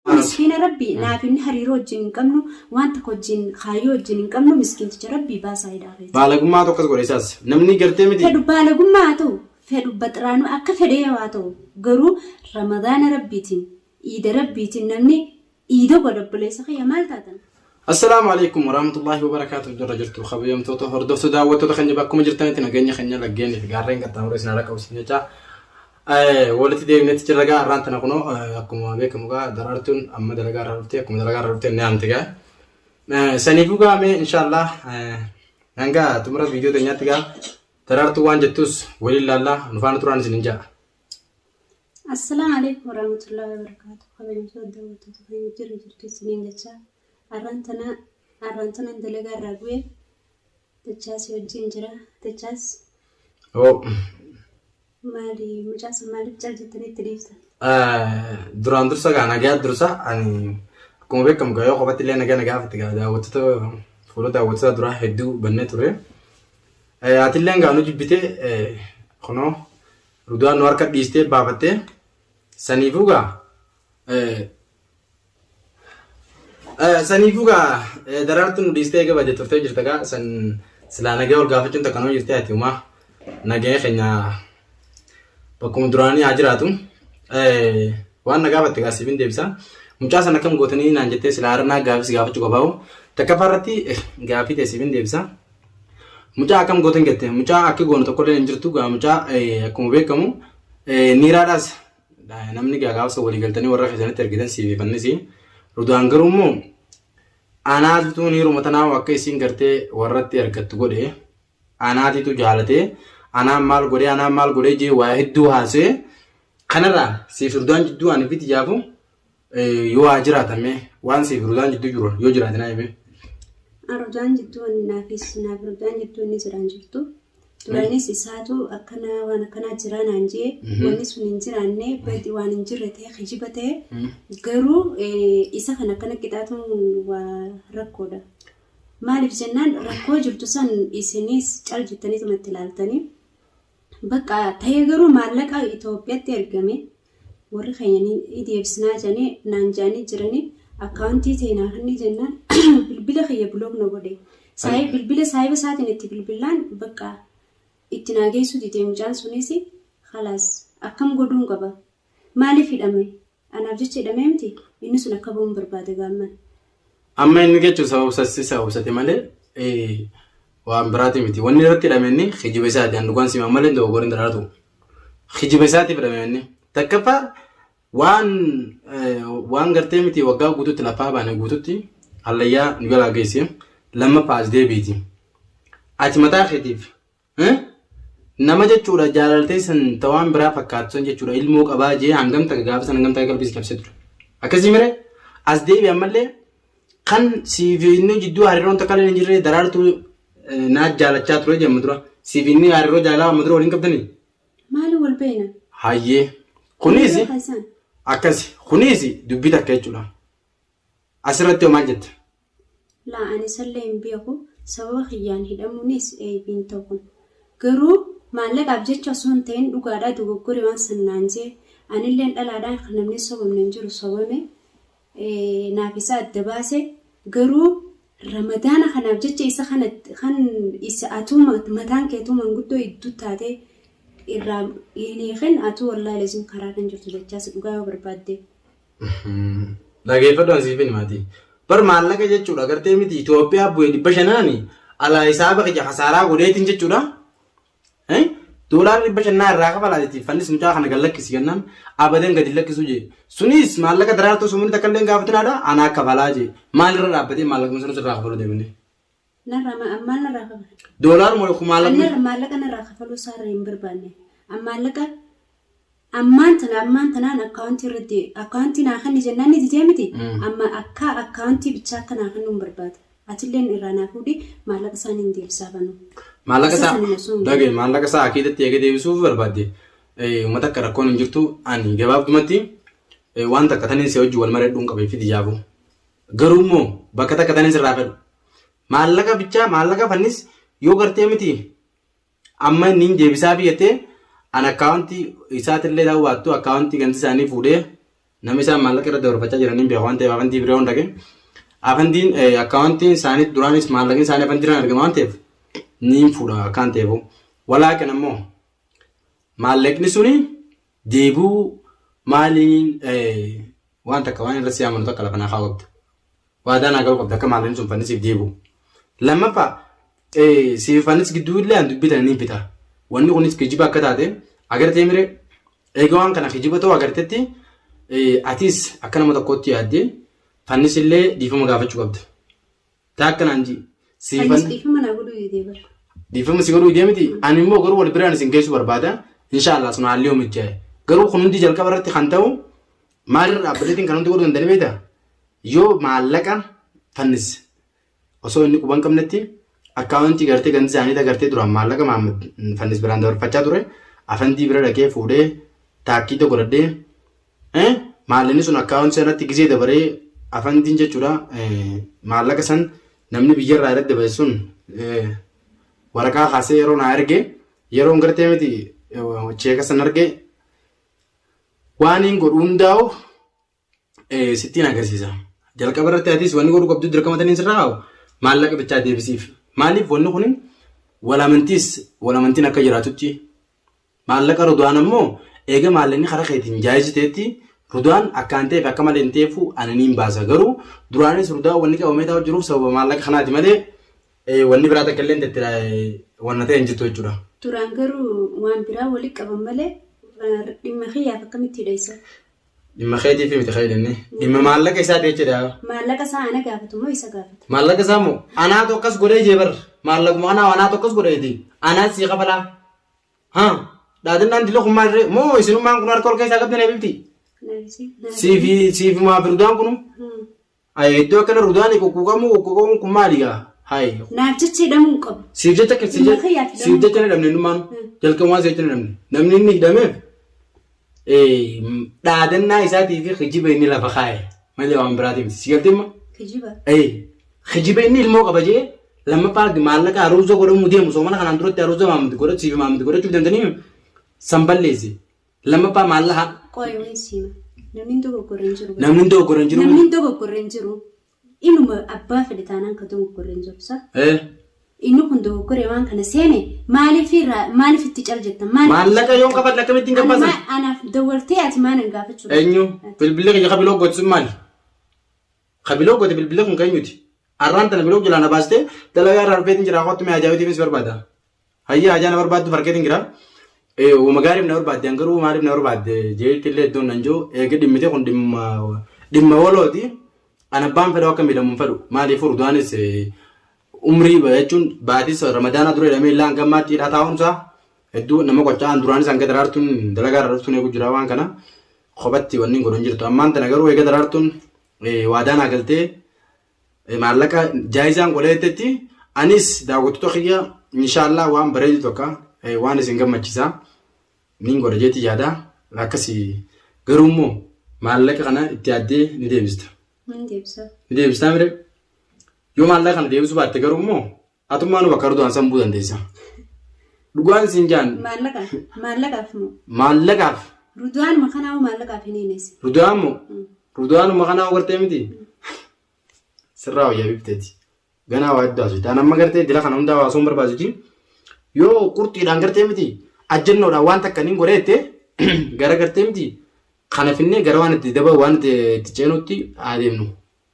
Miskiina rabbi naaf inni hariiroo wajjin hin qabnu waan takka wajjin kaayyoo wajjin hin qabnu miskiinticha rabbi baasaa hidhaa keessa. Baalagummaa tokkos godhe isaas. Namni gartee miti. Fedhu baalagummaa haa ta'u fedhu baxiraanuu akka fedhee yoo haa ta'u garuu ramadaana rabbiitiin iida rabbiitiin namni iida godha obboleessa kiyya maal taatan. Assalaamu alaikum warahmatullahi wabarakatuh jirra jirtu kabajamtoota hordoftu daawwattoota keenya bakkuma jirtanitti nageenya keenya laggeenii fi gaarreen qaxxaamuree isin harka qabsiin jecha walitti deebinetti jirra gaa har'aan tana kunoo akkuma beekamu gaa daraartuun amma dalagaa irraa dhuftee akkuma dalagaa irraa dhuftee ni aamti gaa saniifuu gaa mee inshaallah hanga xumura viidiyoo teenyaatti gaa daraartuu waan jettus waliin laallaa nufaana turaan isin hin ja'a. Assalam alaikum warahmatullahi wabarakatuh kabajamtoota daawwattoota keenya jirra jirtu isiniin jechaa arraan tana arraan tana dalagaa irraa bu'e dachaas wajjin jira dachaas Oo, maali mucaasa maaliif cal jettanii itti dhiiftan eh, duraan dursa gaa nagaa dursa ani akkuma beekamu gaa yoo qofatti illee nagaa nagaa fatti gaa daawwattoota fuula daawwattoota duraa hedduu bannee ture. Eh, Ati illee gaa nu jibbite eh, kunoo Rudaan nu harka dhiistee baafattee saniifuu gaa saniifuu gaa daraartu nu dhiistee eega badee turtee jirta gaa san silaa nagee wal gaafachuun takka nama jirtee ati umaa nagee keenya bakkuma duraanii haa jiraatu waan na gaafatte gaa siifin deebisa mucaa san akkam gootanii naan jettee silaa harnaa gaafis gaafachuu qabaawu takkaffaa irratti gaafii ta'e siifin deebisa Mucaa akkam gootan jette mucaa akka goonu tokkollee hin jirtu gaa mucaa akkuma beekamu niiraadhaas namni gaa gaafasa walii galtanii warra keessanitti ergitan siif fannisi rudaan garuu immoo anaatitu niiruma tanaa akka isiin gartee warratti ergattu godhe anaatitu jaalatee anaan maal godhee anaan maal godhee jee waa hedduu haasee kanarraa siif rudaan jidduu ani fiti jaafu Yoo haa jiraatan mee waan siif ruzaan jidduu jiru yoo jiraate naa himee. Arujaan jidduu inni naafis naaf arujaan jidduu inni jiraan jirtu. Duraanis isaatu akkana waan akkanaa jiraa naan jee wanni sun hin jiraanne badi waan hin jirre ta'e kijiba ta'e garuu isa kan akkana qixaatuun waa rakkoodha. Maaliif jennaan rakkoo jirtu san isinis cal jettanii tumatti ilaaltanii Bakka ta'ee garuu maallaqa Itoophiyatti ergame warri keenya ni deebisnaa jedhanii naan jedhanii jiranii akkaawuntii ta'e naa kennii jennaan bilbila kiyya bilook na godhe. Saayii bilbila saayiba isaatiin itti bilbilaan bakka itti naa geessuu didee mucaan sunis halaas akkam godhuun qaba Maaliif hidhame? Anaaf jecha hidhamee miti? Inni sun akka ba'uun barbaada gaamman. Amma inni jechuun sababa obsatti isa obsate malee waan biraati miti. Wanni irratti hidhame inni kijiba isaati. An dhugaan simaa malee dogogoorri hin daraaratu. Kijiba isaatiif hidhame inni. Takkaffaa waan waan gartee miti waggaa guutuutti lafaa baane guutuutti hallayyaa nu jalaa geesse lammaffaa as deebiiti. Ati mataa keetiif Nama jechuudha jaalaltee san ta waan biraa fakkaatu san jechuudha ilmoo qabaa jee hangam takka gaafa san hangam takka qalbii si cabsee ture. Akkasii mire as deebi ammallee kan siif inni jidduu hariiroon takka illee hin jirre daraartuu naa jaalachaa ture jee amma dura siif inni hariiroo jaalaa amma dura waliin qabdanii. Maali wal beeyna? Hayyee kunis Yeroo keessan. akkasi kunis dubbii takka jechuudha. Asirratti hoo maal jetta? Laa ani isallee hin beeku sababa kiyyaan hidhamuunis eyb hin tahu garuu maallaqaaf jecha osoo hin tahin dhugaadhaa dogoggore waan san naan jee anilleen dhalaadhaan kan namni sobamne hin jiru sobame naaf isa adda baase garuu ramadaana kanaaf jecha isa kana kan isa atuu mataan keetuu manguddoo idduu taate irraa hin hiikin atuu wallaahi lazim karaa kan jirtu jechaas dhugaa yoo barbaadde. Dhageeffadhu an siifin maatii. Bar maallaqa jechuudha gartee miti Itoophiyaa bu'ee dhibba shanaani alaa hisaaba kiyya kasaaraa godheetiin jechuudha. Eh? Doolaarri dhibba shannaa irraa kafalaa jetti fannis mucaa kana gad lakkisi jennaan abadan gadi lakkisuu jee. Sunis maallaqa daraartuu sumurii takka illee hin gaafataadha anaa kafalaa jee. Maalirra dhaabbatee maallaqni sunis irraa kafaluu deemne. Narraa ma- an maal narraa kafala? Doolaaruma An kumaalamni narra maallaqa narraa kafaluu isaarra hin barbaanne. An maallaqa ammaan tana ammaan tanaan akkaawuntii irratti akkaawuntii naa kenni jennaan ni didee miti. Mm. Amma akka akkaawuntii bichaa akka naa kennu hin barbaada. Atilleen irraa naa fuudhi maallaqa isaanii hin deebisaa banuu. maallaqa Isa isaa sana osoo hin dhagaye maallaqa isaa akiidatti eega deebisuuf barbaadde eh, uummata akka rakkoon hin jirtu ani gabaabdumatti eh, waan takka taniin si wajjin wal mareedhuun qabee fidi jaabuu. Garuu immoo bakka takka tanis irraa fedhu. Maallaqa bichaa maallaqa fannis yoo gartee miti amma inni hin deebisaa fi jettee an akkaawuntii isaatillee ta'uu baattu akkaawuntii ganti isaanii fuudhee nama isaan maallaqa irra dabarfachaa jiraniin beeku waan ta'eef afantii biree hundaqe. Afantiin akkaawuntiin isaanii duraanis maallaqni isaanii afantiirraan argama waan ta'eef niin fuudha akkaan ta'eefu. Walaaqin ammoo maallaqni suni Deebi'uu maaliin waan takka waan irra si amanu takka lafa naa kaa'uu qabda. Waadaa naa galuu qabda akka maallin sun fannisiif deebi'u. Lammaffaa siif fannis gidduu illee an dubbii tana ni bita. Wanni kunis kijiba akka taate agartee mire eega waan kana kijiba ta'uu agartetti atis akka nama tokkootti yaaddee fannis illee dhiifama gaafachuu qabda. Taakka naan jii. Siifan Anis dhiifama naa godhuu didee bara. dhiifama si godhuu deemiti. Ani immoo garuu wal biraan isin geessu barbaada. Inshaallah sun haalli yoo mijjaa'e. Garuu kun hundi jalqaba irratti kan ta'u maalirra dhaabbateetiin kan hundi godhuu danda'anii beektaa? Yoo maallaqa fannisse osoo inni quban qabnetti akkaawuntii gartee gandi isaanii agartee duraan maallaqa Mahammad fannis biraan dabarfachaa ture afandii bira dhaqee fuudhee taakkii tokko godhadhee Eh? Maallini sun akkaawunti sanatti gizee dabaree afandiin jechuudha eh, maallaqa san namni biyyarraa irratti dabarse sun eh, waraqaa kaasee yeroo naa erge yeroon gartee miti eh, cheeka san arge waan hin godhu hundaa'u eh, sittiin agarsiisa. Jalqaba irratti atis wanni godhu qabdu dirqama taniin sirraa haa'u maallaqa bichaa deebisiif. Maaliif wanni kun walamantiis walamantiin akka jiraatutti Maallaqa Ruduwaan ammoo eega maallaqni karaa keetiin jaayizi ta'etti Ruduwaan akkaan ta'eef akka malee hin ta'eefu ani niin baasa garuu duraanis Ruduwaan wanni qabamee taa'u jiruuf sababa maallaqa kanaati malee wanni biraa takka illeen itti wanna ta'e hin jirtu jechuudha. Duraan garuu waan biraa wali qaban malee dhimma kiyyaaf akkamitti hidheessa? Dhimma keetiif miti kan hidhanne dhimma maallaqa isaati jechuudha. Maallaqa isaa ana gaafatu moo isa gaafata? Maallaqa isaa moo anaa tokkas godhee jee bar maallaquma anaa anaa tokkas godheeti anaa sii kabalaa. Haa, dhaadannaan dila kun maal ree? Moo isinummaan kun harka ol keessaa qabdan eebilti? Siifi siifi maa firdaan kunu? Ayi iddoo akkana rudaan quqquuqamuu quqquuqamuun kun maali gaa? Hayi. Naaf jecha hidhamuu hin qabu. Siif jecha akka siif Dhimma kiyyaaf hidhamuu siif jecha hin hidhamne innummaan jalqabumaan siif jecha hin hidhamne. Namni inni hidhameef dhaadannaa isaatii fi kijiba inni lafa kaa'e malee waan biraatii miti. Sigaltimma? Kijiba. Kijiba inni ilmoo qaba jee lammaffaa maallaqa haruuza godhamuu deemu soomana kanaan duratti haruuza maamti godhachuu fi maamti godhachuuf dandanii san balleessi. Lammaffaa maallaqa. Qoyyoon siima. Namni dogoggorreen jiru. Namni dogoggorreen jiru. Namni dogoggorreen jiru. Inuma abbaa fedhe taanaan ka dogoggore hin jiru sa. Ee. Inni kun dogoggore waan kana seene maaliif irraa maaliif itti cal jettan maaliif Maallaqa yoon kafadhe akkamittiin Ani gabbaasan? maa- anaaf dawwaltee ati maa nan gaafachuu Eenyu? Bilbilli kiyya ka biloo goote sun maali? Ka biloo goote bilbilli kun ka eenyuti? Arraan tana biloo jalaa na baastee dalagaa irraa dhufeetiin jira kottu mee ajaa'ibatiifis barbaada. Hayya hajaa na barbaaddu fargeetiin jira. Wama gaariif na barbaadde garuu maaliif na barbaadde jeetti illee iddoon nan jiru eega dhimmite kun dhimma dhimma walooti. An abbaan fedhu akka miidhamu hin fedhu maaliif furdaanis umrii jechuun baatis ramadaanaa dura jedhamee illee hanga ammaatti hidhaa taa'umsa hedduu nama qocca'an duraanis hanga daraartuun dalagaa irra dhuftuun eegu jira waan kana kophatti wanni godhu hin jirtu. Ammaan tana garuu eega daraartuun waadaa naa galtee maallaqa jaayizaan godha jettetti anis daawwattoota kiyya inshaallah waan bareedu tokko waan isin gammachisa niin godha jeetti yaada akkasi garuu immoo maallaqa kana itti yaaddee ni deebista. Ni deebisa. Ni deebistaa mire yoo maallaqa kana deebisuu baatte garuu immoo Atummaa nu bakka Erdogan san bu'uu dandeessa. Dhugaan siin jaan Maallaqaaf. Maallaqaaf moo. maallaqaaf Rudaanuma kanaa hoo maallaqaaf hin hiinesi. Rudaan moo Rudaanuma kanaa hoo gartee miti sirraa wayyaa bifteeti. Ganaa waa heddaa hojjetaan amma gartee dila kana hundaa waasuun barbaadu jiru. Yoo qurxiidhaan gartee miti ajjannoodhaan waan takka niin godhee jettee gara gartee miti kana finnee gara waan itti daba waan itti itti ceenutti haa deemnu.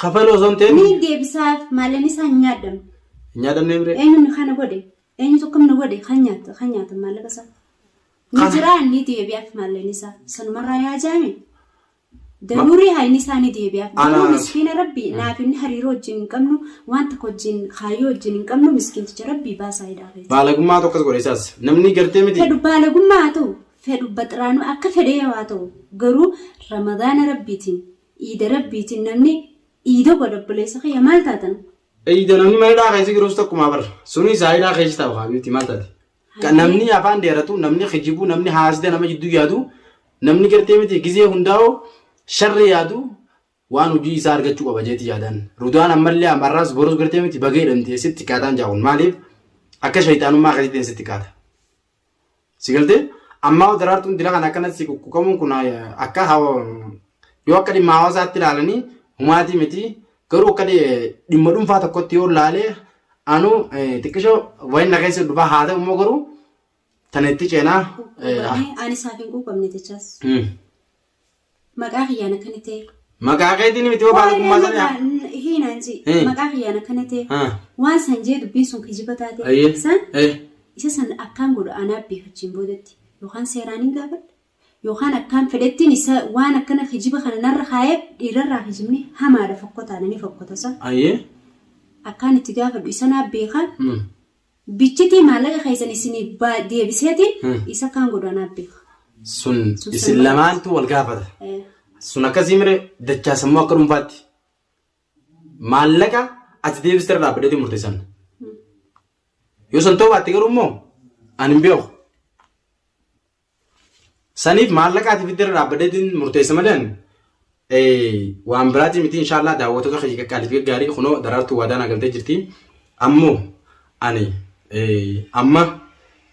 Kafaluu osoo hin ta'in. Ni deebisaaf maalan isaa hin nyaadamne. Hin nyaadamne mire. Eenyuun kana godhe? Eenyutu akkam na godhe? Kan nyaata kan nyaata maallaqa isaa. Ni Kana. jiraa ni deebi'aaf maalan isaa. Sanumarraa yaa jaame. Daruurii haayni isaa ni deebi'aaf. Garuu Anaaf. miskiina rabbii naaf inni hariiroo wajjin hin qabnu waan tokko wajjin kaayyoo wajjin hin qabnu miskiinticha rabbii baasaa hidhaa keessa. Baalagummaa tokkos godhe isaas. Namni gartee miti. Fedhu baalagummaa haa ta'u, fedhu baxiraanuu akka fedhee haa ta'u, garuu ramadaana rabbiitiin Iida Rabbiitiin namni iida godhe obboleessa kiyya maal taatan? Iida namni mana hidhaa keessa jirus takkumaa bar. Sunis haa hidhaa keessa taa'u haa miti maal taate? Ka Hayyee. Namni afaan dheeratu, namni kijibuu, namni haasida nama jidduu yaadu, namni gartee miti gizee hundaa'u sharri yaadu waan hojii isaa argachuu qaba jeeti yaadaan. Rudaan ammallee ammarraas borus gartee miti bagee jedhamti sitti qaataan jaa'uun maaliif akka shayxaanummaa keessatti sitti qaata. Si galtee? Ammaa daraartuun dila kana akkanatti si kukkukamuun kun akka yoo akka dhimma hawaasaatti ilaalanii humaatii miti garuu akka dhimma dhuunfaa tokkotti yoo ilaalee anu xiqqisho wayin na keessa dhufaa haa ta'u immoo garuu tana itti ceenaa. Ani isaaf hin quuqamne jechaas. Maqaa kiyyaan akkana ta'e. Maqaa keetiin miti yoo baala kummaa sana yaa. Hiinaan si. Eh. Maqaa kiyyaan akkana ta'e. Ah. Waan san jee dubbiin sun kijiba taate. Ayyee. San Eh. isa san akkaan godha anaa beekachiin boodatti. Yookaan seeraan hin gaafadha. Yookaan akkaan fedhettiin isa waan akkana kijiba kana narra kaa'ee dhiirarraa kijibni hamaadha fokkotaadha ni fokkota san. Ayyee. Akkaan itti gaafadhu isa naa beekaa. Hmm. Bichitii maallaqa keessan isinii ba- deebiseeti Hmm. isa kaan godaanaa beeka. Sun Sun isin sun lamaantu wal gaafata. Eh, Sun akkasii mire dachaa sammuu akka dhuunfaatti maallaqa ati deebiste irra dhaabbateetiin murteessan. Yoo san ta'uu baatte garuu immoo ani hin beeku. Saniif maallaqaatiif itti irra dhaabbadeetiin murteessa malee ani waan biraatii miti inshaallah daawwattoota kiyya qaqqaalii fi gaggaarii kunoo daraartuu waadaa naa galtee jirti. Ammoo ani amma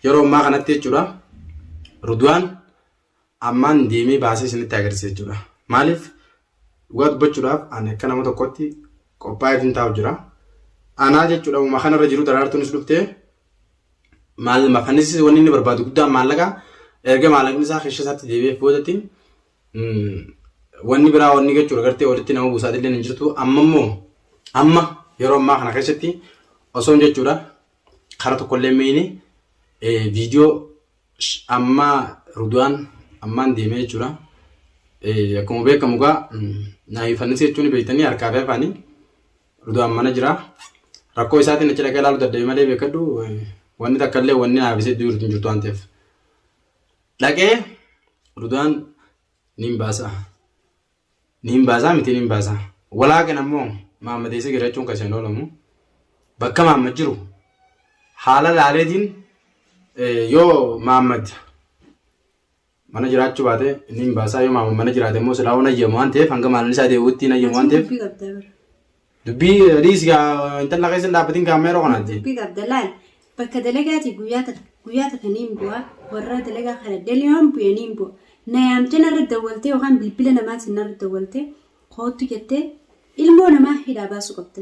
yeroo ammaa kanatti jechuudha Rudwaan ammaan deemee baasee isinitti agarsiisa jechuudha. Maaliif dhugaa dubbachuudhaaf ani akka nama tokkotti qophaa'eetiin taa'u jira. Anaa jechuudha uuma kanarra jiru daraartuunis dhuftee maal mafanis wanni inni barbaadu guddaan maallaqa erga maallaqni isaa keessa isaatti deebi'eef boodatti wanni biraa wanni jechuudha gartee walitti nama buusaati illee hin jirtu amma immoo amma yeroo ammaa kana keessatti osoon jechuudha kara tokkollee miini viidiyoo amma ruduwaan ammaan deemee jechuudha akkuma beekamu gaa naayifannis jechuun beektanii harkaa fi afaanii Rudaan mana jira. Rakkoo isaatiin achi dhaqee ilaaluu dadhabe malee beekadhu wanni takka illee wanni haafisee iddoo jirtu hin jirtu waan ta'eef. Dhaqee Rudaan niin baasa. Niin baasaa miti niin baasa. Walaaqin ammoo maammadeessee girachuun kan isheen oolamu. Bakka maammad jiru haala laaleetiin yoo maammad Mana jiraachuu baate inni hin baasaa yoo maama mana jiraate immoo silaa waan ayyamu waan ta'eef hanga maalan isaa deebi'utti hin ayyamu waan ta'eef Dubbii qabda bara. dubbii dhiis gaa intala keessa hin dhaabbatiin gaa amma yeroo kanaatti. Dubbii qabda laal. Bakka dalagaati guyyaa takka guyyaa takka niin bu'a. Warra dalagaa kana daliyoon bu'e niin bu'a. Na yaamtee narra dawwaltee yookaan bilbila namaatiin narra dawwaltee koottu jettee ilmoo namaa hidhaa baasuu qabda.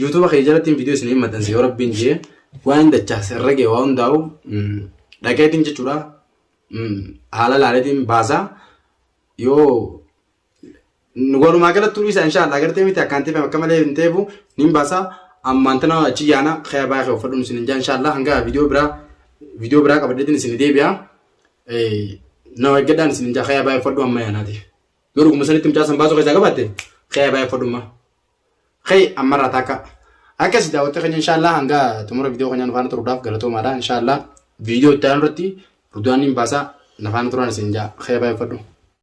Yuutuuba kee jalatti viidiyoo isin hin maxxanse yoo rabbiin jee waan dachaa sirra gee waa hundaa'u dhaqeetiin jechuudha haala laaleetiin baasaa yoo walumaa galatti turii isaa inshaallah agartee miti akkaan teefame akka malee hin teefu niin baasaa ammaan tana achi yaana kaya baay'ee kee uffadhuun isin hin jaa inshaallah hanga viidiyoo biraa viidiyoo biraa qabadheetiin isin deebi'a na eeggadhaan isin hin jaa kaya baay'ee uffadhu amma yaanaati yoo dhuguma sanitti mucaa san baasuu keessaa qabaatte kaya baay'ee uffadhu ammaa. Kee ammarraa taakka akkasi daawwattee keenya inshaallah hanga xumura viidiyoo keenyaa nufaana turuudhaaf galatoomaadha inshaallah viidiyoo itti aanu irratti rudaanniin baasaa nafaana turaan isin jaa kee baay'effadhu.